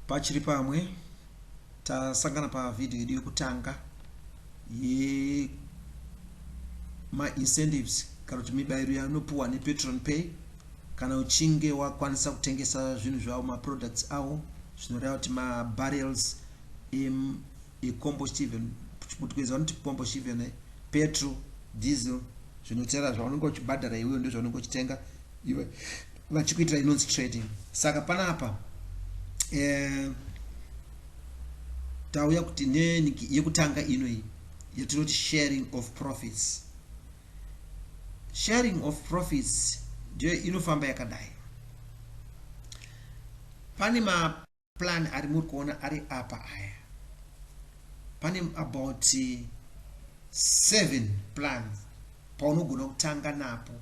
pachiri pamwe tasangana pavhidhiyo yedu yekutanga yemaincentives kana kuti mibairo yanopuwa nepatron pay kana uchinge wakwanisa kutengesa zvinhu zvavo maproducts avo zvinoreva kuti mabarrels Ikombostivheni, kuchiPutukezi vanoti combustível, petro, diesel, zvinoterera zvaunenge uchibhadhara iwewe ndozvaunenge uchitenga iwe vachikuitira inonzi trading. Saka panapa eh, tauya kuti neniki yekutanga ino iyi yatinoti sharing of profits. Sharing of profits ndiyo inofamba yakadai. Pane ma plan ari muri kuona ari apa aya pane about seven plans paunogona kutanga napo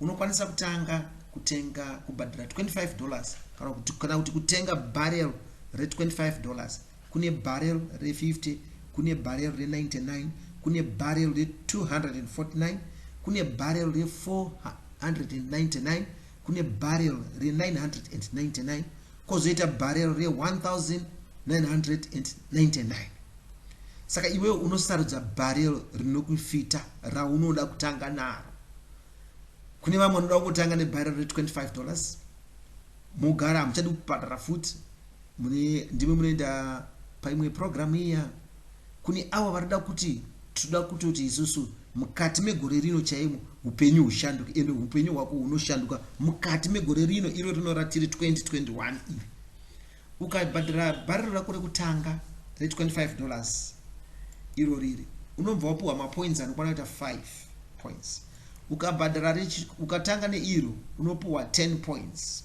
unokwanisa kutanga kutenga kubhadhira 25 dollars kana kuti kana kuti kutenga barrel re 25 dollars kune barrel re 50 kune barrel re 99 kune barrel re 249 kune barrel re 499 kune barrel re 999 kozoita barrel re 1999 saka iwewe unosarudza barrel rinokufita raunoda kutanga naro kune vamwe vanoda kutanga nebarrel re 25 dollars mogara hamuchadi kubhadhara futi Mune ndimi munoenda paimwe program iya kune avo varida kuti tinoda kutoti isusu mukati megore rino chaimo upenyu hushanduke ende upenyu hwako hunoshanduka mukati megore rino iro rinoratiri 2021 iri ukabhadhira bhariro rako rekutanga re25 dollars iro riri unobva wapiwa mapoints anokwana kuita 5 points ukabhadhira ukatanga neiro unopiwa 10 points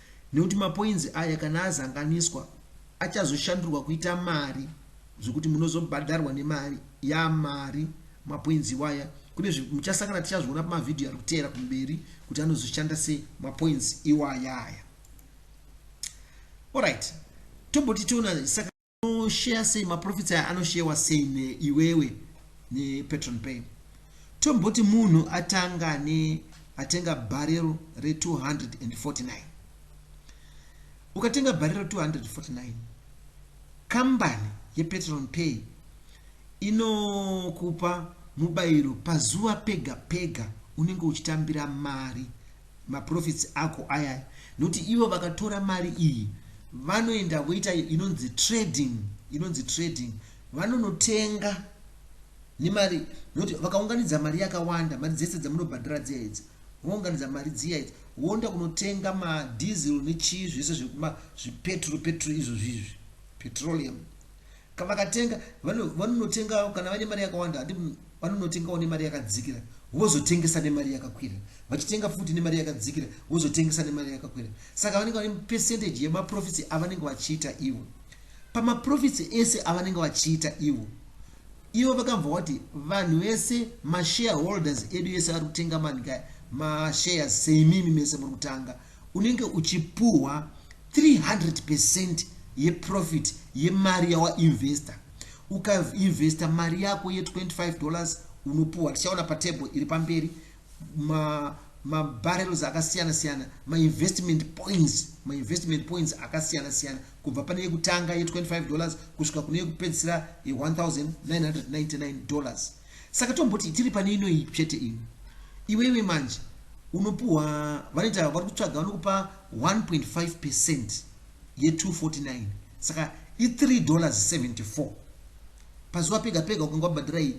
Nekuti mapoinzi aya kana azanganiswa achazoshandurwa kuita mari zvekuti munozobhadharwa nemari yamari mapoinzi iwaya. Kune muchasangana tichazviona pamavhidhiyo ari kuteera kumberi kuti anozoshanda sei mapoinzi iwaya aya. Alright, tomboti tiona saka anosheya sei maprofits aya anosheyewa sei neiwewe nepatron pay tomboti munhu atanga ne atenga barrel re249 ukatenga barrel 249 kambani yepatron pay inokupa mubayiro pazuva pega pega unenge uchitambira mari maprofits ako ayaya nokuti ivo vakatora mari iyi vanoenda voita inonzi trading inonzi trading vanonotenga nemari nokuti vakaunganidza mari yakawanda mari dzese dzamunobhadhara dziya idzi vounganidza mari dziya idzi voenda kunotenga madiesel nechii zvese zvekuma zvipetro petro izvo zvizvi petroleum Ka vakatenga vano vanonotengawo kana vane mari yakawanda handi vanonotengawo nemari yakadzikira vozotengesa nemari yakakwira vachitenga futi nemari yakadzikira vozotengesa nemari yakakwira saka vanenge vane percentage yemaprofits avanenge vachiita ivo pamaprofits ese avanenge vachiita ivo ivo vakambva vati vanhu vese mashareholders edu ese ari kutenga manika mashares seimimi mese muri kutanga unenge uchipuhwa 300 percent yeprofit yemari yawainvesta ukainvesta mari yako ye 25 dollars unopuwa tichaona patable iri pamberi ma mabarrels akasiyana siyana mainvestment points mainvestment points akasiyana siyana kubva pane yekutanga ye 25 dollars kusvika kune yekupedzisira ye 1999 dollars saka tomboti tiri pane inoyi chete ino iweiwe manje unopuwa vanoita vari kutsvaga vanokupa 1.5 percent ye 249 saka i 3 dollars 74 pazuva pega pega ukanga wabhadhira iyi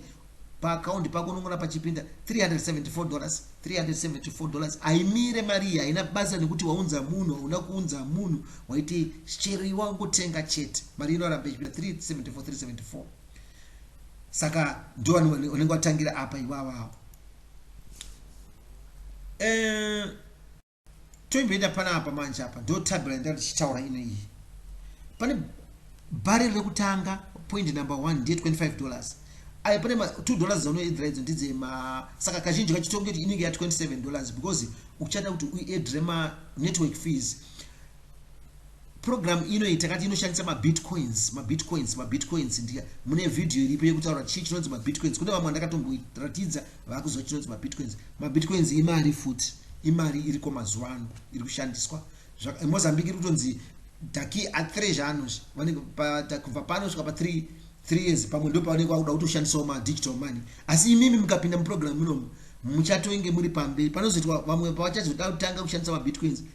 paakaundi pako unongona pachipinda 374 dollars 374 dollars haimire mari iyi haina basa nekuti waunza munhu hauna kuunza munhu waiti chero iwangotenga chete mari inoramba ichipinda 374374 saka ndo unenge watangira apa iwavawo eh, toimboenda panapa manje apa ndo tabla yandanga ndichitaura ino iyi pane bhari rekutanga point number one ndiye 25 dollars ayo pane ma 2 dollars dzaunoedra idzo ndidze ma saka kazhinji kachitonge kuti inenge ya 27 dollars because uchada kuti uedre ma network fees Program ino iyi takati inoshandisa mabitcoins, mabitcoins, mabitcoins ndiya. Mune video iripo yekutaura chii chinonzi mabitcoins. Kune vamwe ndakatomboratidza vakuziva chinonzi mabitcoins. Mabitcoins imari futi, imari iriko mazuva ano iri kushandiswa. Mozambique iri kutonzi daki a3 zvaanozvi vanenge kubva pano svika pa 3 3 years pamwe ndo pavanenge vakuda kutoshandisawo ma digital money asi imimi mukapinda muprogram munomu muchatoinge muri pamberi panozoitwa vamwe pavachazoda kutanga kushandisa mabitcoins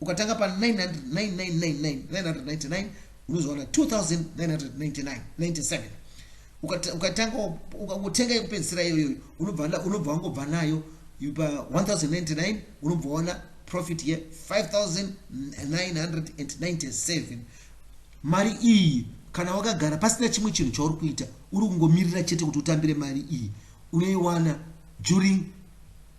ukatanga pa 999 unozowana 2999 ukatanga utenga yekupedzisira iyoyo unobva unobva wangobva nayo pa 1099 unobva waona profit ye 5997 mari iyi kana wakagara pasina chimwe chinhu chauri kuita uri kungomirira chete kuti utambire mari iyi unoiwana during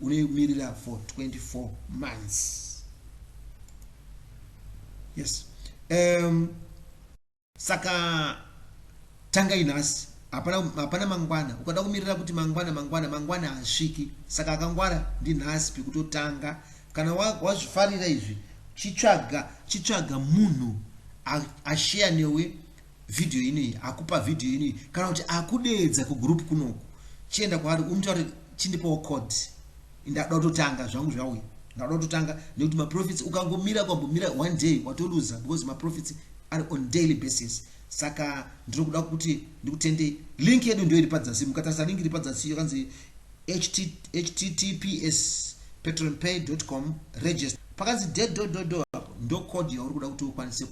unomirira for 24 months yes um, saka tangai nhasi hapana hapana mangwana ukada kumirira kuti mangwana mangwana mangwana hasviki saka akangwara ndinhasi pekutotanga kana wazvifarira wa izvi chitsvaga chitsvaga munhu asheya newe video inei akupa video inei kana kuti akudeedza kugroup kunoku chienda kwaari umutaure chindipawo code ndada kutotanga zvangu zvauya ndada kutotanga nekuti maprofits ukangomira kwambomira one day watoluza because maprofits ari on daily basis saka ndiri kuda kuti ndikutendei link yedu ndio iri padzasi mukatarisa link iri padzasi yokanzi https patreonpay.com register pakanzi de do do do apo ndo code yauri kuda kuti ukwanise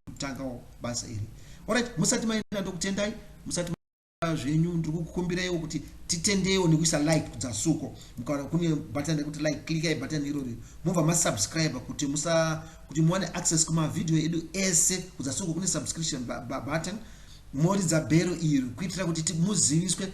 kutangawo basa iri orit musati maenda ndokutendai musati zvenyu ndiri kukumbiraiwo kuti titendewo nekuisa like kudzasuko mukaona kune button rekuti like klikai button irori mobva masubscribe kuti musa kuti muwane access kumavhidhiyo edu ese kudzasuko kune subscription button moridza bhero iri kuitira kuti muziviswe